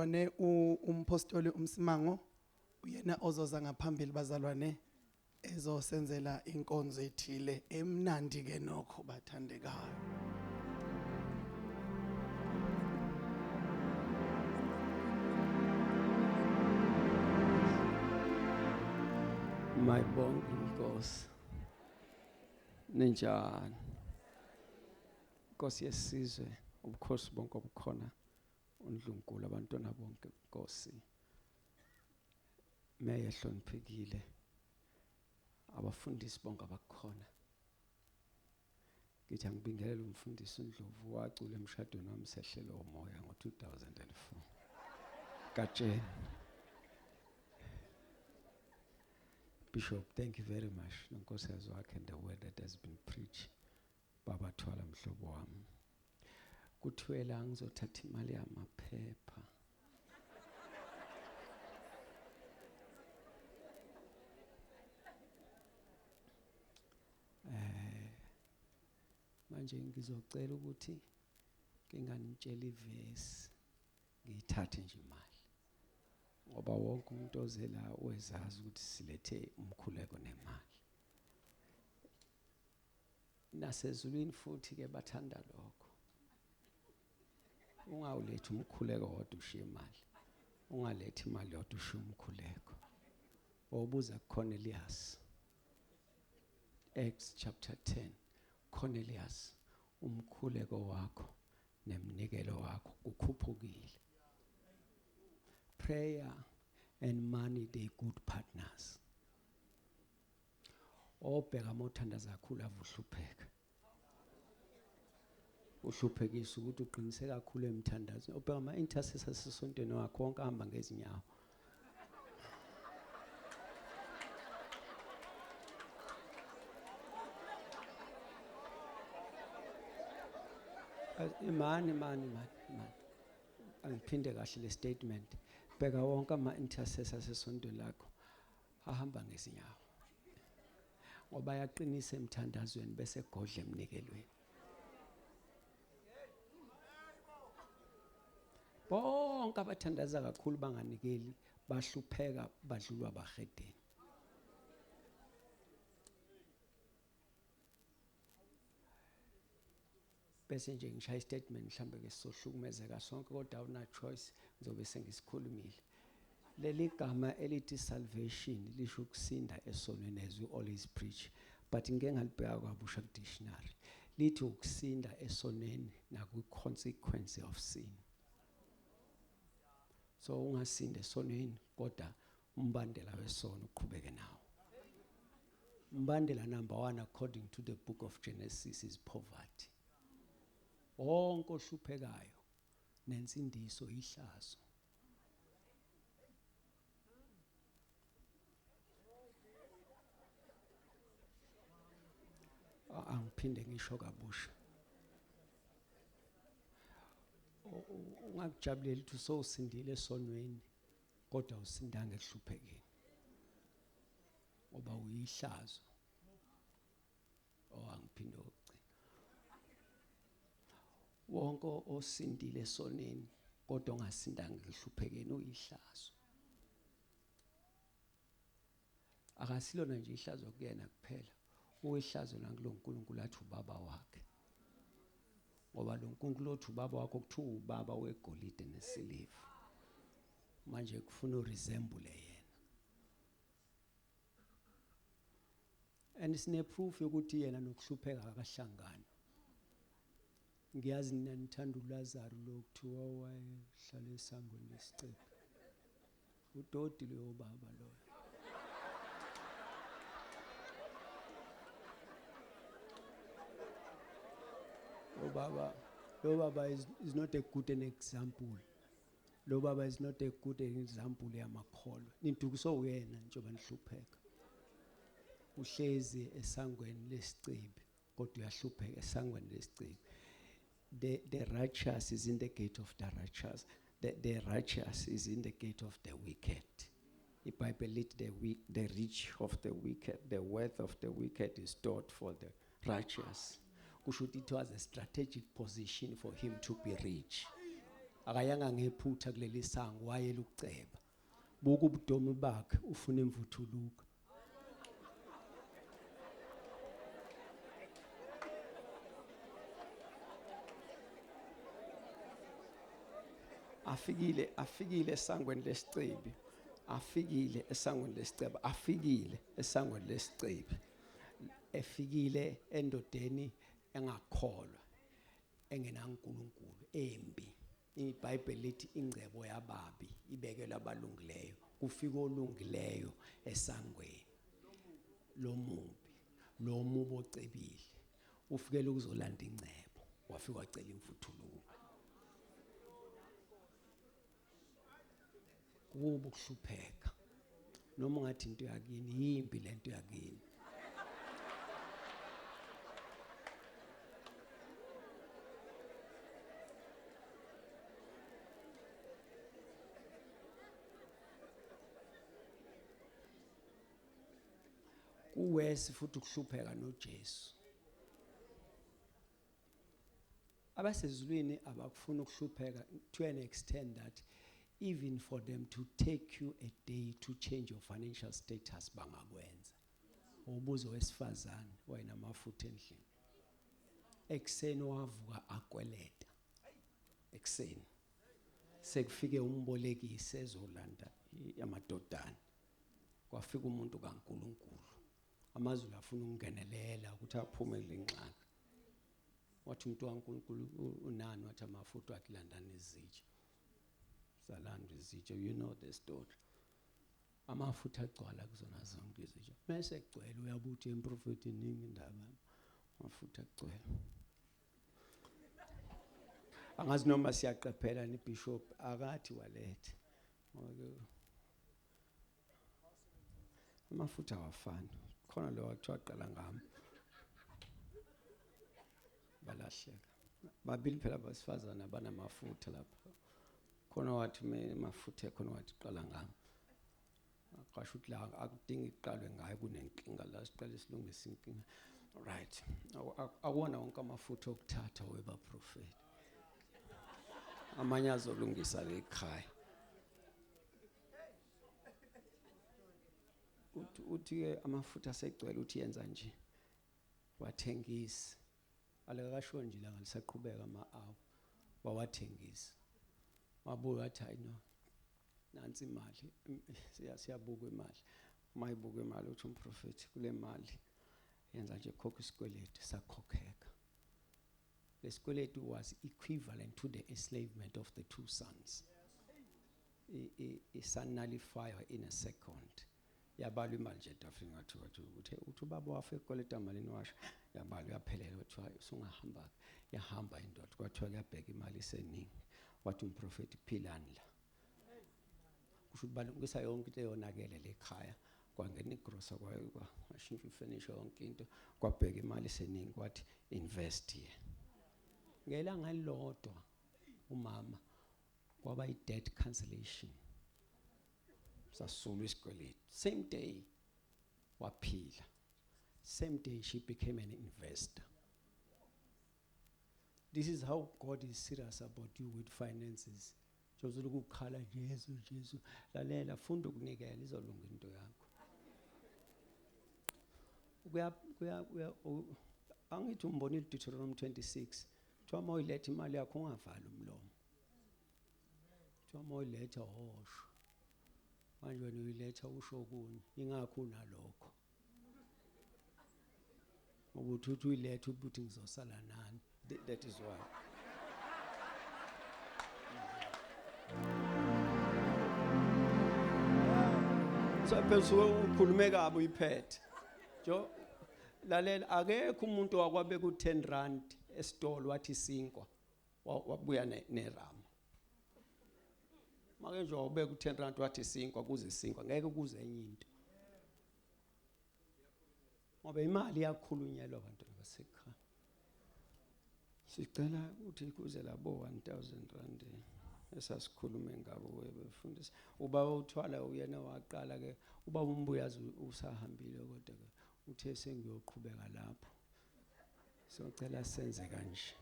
Bazalwane u- umphostoli uMsimango uyena ozoza ngaphambili bazalwane ezosenzela inkonzo ethile emnandi ke nokho bathandekayo. My bonke Nkosi. Ninjani? Nkosi yesizwe, ubukhosi bonke obukhona uNdlunkulu abantwana bonke Nkosi meya ehloniphekile abafundisi bonke abakhona ngithi angibingelele umfundisi uNdlovu wacula emshadweni wami sehlelo umoya ngo-2004 katsheni Bishop, thank you very much. Nonkosi has work and the word that has been preached. Baba thwala mhlobo wami. Kuthwela ngizothatha imali yamaphepha. Eh manje ngizocela ukuthi nginganitshela ivesi ngiyithathe nje imali. Ngoba wonke umuntu ozela uyazazi ukuthi silethe umkhuleko nemali. nasezulwini futhi ke bathanda lokho ungawulethi umkhuleko wodwa ushiye imali ungalethi imali yodwa ushiye umkhuleko obuza kuCornelius Acts chapter 10 Cornelius umkhuleko wakho nemnikelo wakho kukhuphukile prayer and money they good partners obheka amothandaza kakhulu avuhlupheka uhluphekisa ukuthi uqinise kakhulu emthandazweni obheka ama-intercessor sesontweni wakho wonke ahamba ngezinyawo imani mani mani mani angiphinde kahle le statement bheka wonke ama-intercessor sesontweni lakho ahamba ngezinyawo ngoba yaqinisa emthandazweni bese godla emnikelweni bonke abathandaza kakhulu banganikeli bahlupheka badlulwa bahedeni bese nje ngishaya istatement mhlambe ke sizohlukumezeka sonke kodwa awuna choice ngizobe sengisikhulumile leli gama elithi salvation lisho ukusinda esonweni as we always preach but ngike ngalibheka kwabusha dictionary lithi ukusinda esoneni nakwi consequence of sin so ungasinda esoneni kodwa umbandela wesono uqhubeke nawo umbandela number 1 according to the book of Genesis is poverty wonke ohluphekayo nensindiso ihlazo angiphinde ngisho kabusha ungakujabuleli ukuthi usosindile esonweni kodwa usindanga ekuhluphekeni ngoba uyihlazo owangiphinde oh, ogcina wonke osindile soneni kodwa ongasindanga ekuhluphekeni uyihlazo Akasilona nje ihlazo kuyena kuphela, uyihlazo nakulo Nkulunkulu athi ubaba wakhe. Ngoba lo Nkulunkulu othi ubaba wakho kuthiwa ubaba wegolide nesiliva. Manje kufuna uresemble yena. And sine proof yokuthi yena nokuhlupheka akahlangani. Ngiyazi nina nithanda uLazaru lo kuthiwa wayehlala esangweni lesicebi. Udoti loyo baba loyo. Lo baba lo baba is, is not a good an example. Lo baba is not a good an example yamakholwa. Nidukiswa uyena njengoba nihlupheka. Uhlezi esangweni lesicebi. kodwa uyahlupheka esangweni lesiciko the the righteous is in the gate of the righteous the, the righteous is in the gate of the wicked ibhayibheli lithi the, weak, the rich of the wicked the wealth of the wicked is stored for the righteous kusho ukuthi it was a strategic position for him to be rich akayanga ngephutha kuleli sango wayela ukuceba buka ubudomi bakhe ufuna imvuthuluka afikile afikile esangweni lesicebi afikile esangweni lesiceba afikile esangweni lesicebi efikile endodeni engakholwa engenaNkulunkulu embi IBhayibheli lithi ingcebo yababi ibekelwa abalungileyo, kufika olungileyo esangweni lomubi. Lo mubi ocebile ufikele ukuzolanda ingcebo, wafika wacela imvuthuluka. kubo ukuhlupheka noma ungathi into yakini yimbi lento yakini kuwesi futhi ukuhlupheka noJesu abasezulwini abakufuni ukuhlupheka to an extent that even for them to take you a day to change your financial status bangakwenza ubuzo wesifazane wayena amafutha endlini ekuseni wavuka akweleta ekuseni sekufike umbolekisi ezolanda amadodana kwafika umuntu kaNkuluNkulu amazulu afuna ukungenelela ukuthi aphume lenxaka wathi umuntu waNkulunkulu unani wathi amafuta wathi landani izitsha zalandwa izitsha you know the story amafutha agcwala kuzona zonke izitsha mese egcwele uyabuthi emprofethi iningi indaba amafutha agcwele angazi noma siyaqaphela ni bishop akathi walethe ngoba amafutha awafani khona lo wathiwa qala ngami balahleka babili phela abasifazana banamafutha lapha khona wathi mafutha khona wathi qala ngami qasho ukuthi la akudingi iqalwe ngayo kunenkinga la siqale silungise inkinga right akuwona wonke amafutha okuthatha webaprofeti amanye azolungisa ke ekhaya uthi uthi ke amafutha asegcwele uthi yenza nje wathengisa alekakasho nje la ngalisaqhubeka ama awu wawathengisa wabuya athi hayi no nansi imali siyabuka imali uma ibuka imali uthi umprofethi kule mali yenza nje khokha isikweletu sakhokheka lesikweletu was equivalent to the enslavement of the two sons isanalifayo in a second yabalwa imali nje etafini ngathi wathi uthe uthi ubaba wafe ekweleta malini washo yabalwa yaphelela kuthiwa usungahamba yahamba indoda kwathiwa kuyabheka imali iseningi wathi umprofeti philani la kusho balungisa yonke into eyonakele lekhaya kwangena igrosa kwayo kwashintsha ifurniture yonke into kwabheka imali iseningi kwathi invest ye ngelanga lilodwa umama kwaba i debt cancellation sasulwa isikweletu same day waphila same day she became an investor this is how god is serious about you with finances jozulu kukhala jesu jesu lalela funda ukunikela izolunga into yakho kuya kuya angithi umbonile deuteronomy 26 Kuthiwa uma uyiletha imali yakho ungavali umlomo. Kuthiwa uma uyiletha hosho. Manje wena uyiletha usho okunye. Ingakho unalokho. Ukuthi uthi uyiletha ukuthi ngizosala nani. That is why. So phezulu ukhulume kabi uyiphethe. Jo Lalela akekho umuntu wakwabeka u10 rand esitolo wathi sinkwa wabuya nerama. Make nje wabeka u10 rand wathi sinkwa kuze sinkwa ngeke kuze enye into. Ngoba imali iyakhulunyelwa abantu abasekhaya. Sicela ukuthi kuze labo 1000 rand esasikhulume ngabo webefundisi. Uba uthwala uyena waqala ke uba umbuyazi usahambile kodwa ke Uthe sengiyoqhubeka lapho socela senze kanje.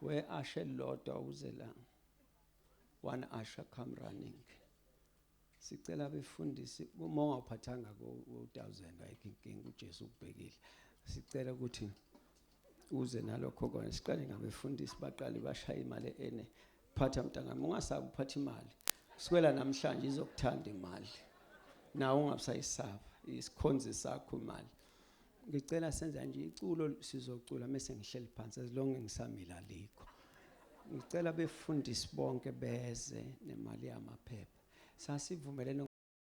We ashe elilodwa uze la. One usher come running. Sicela befundisi uma ungawuphathanga ku 1000 ayikho inkinga uJesu ukubhekile. Sicela ukuthi uze nalokho kona siqale ngabefundisi baqale bashaya imali ene phatha mntangami ungasabi uphatha imali sikwela namhlanje izokuthanda imali nawe ungabusayisaba isikhonzi sakho imali ngicela senza nje iculo sizocula mese ngihleli phansi as long ngisamila likho ngicela befundisi bonke beze nemali yamaphepha sasivumelene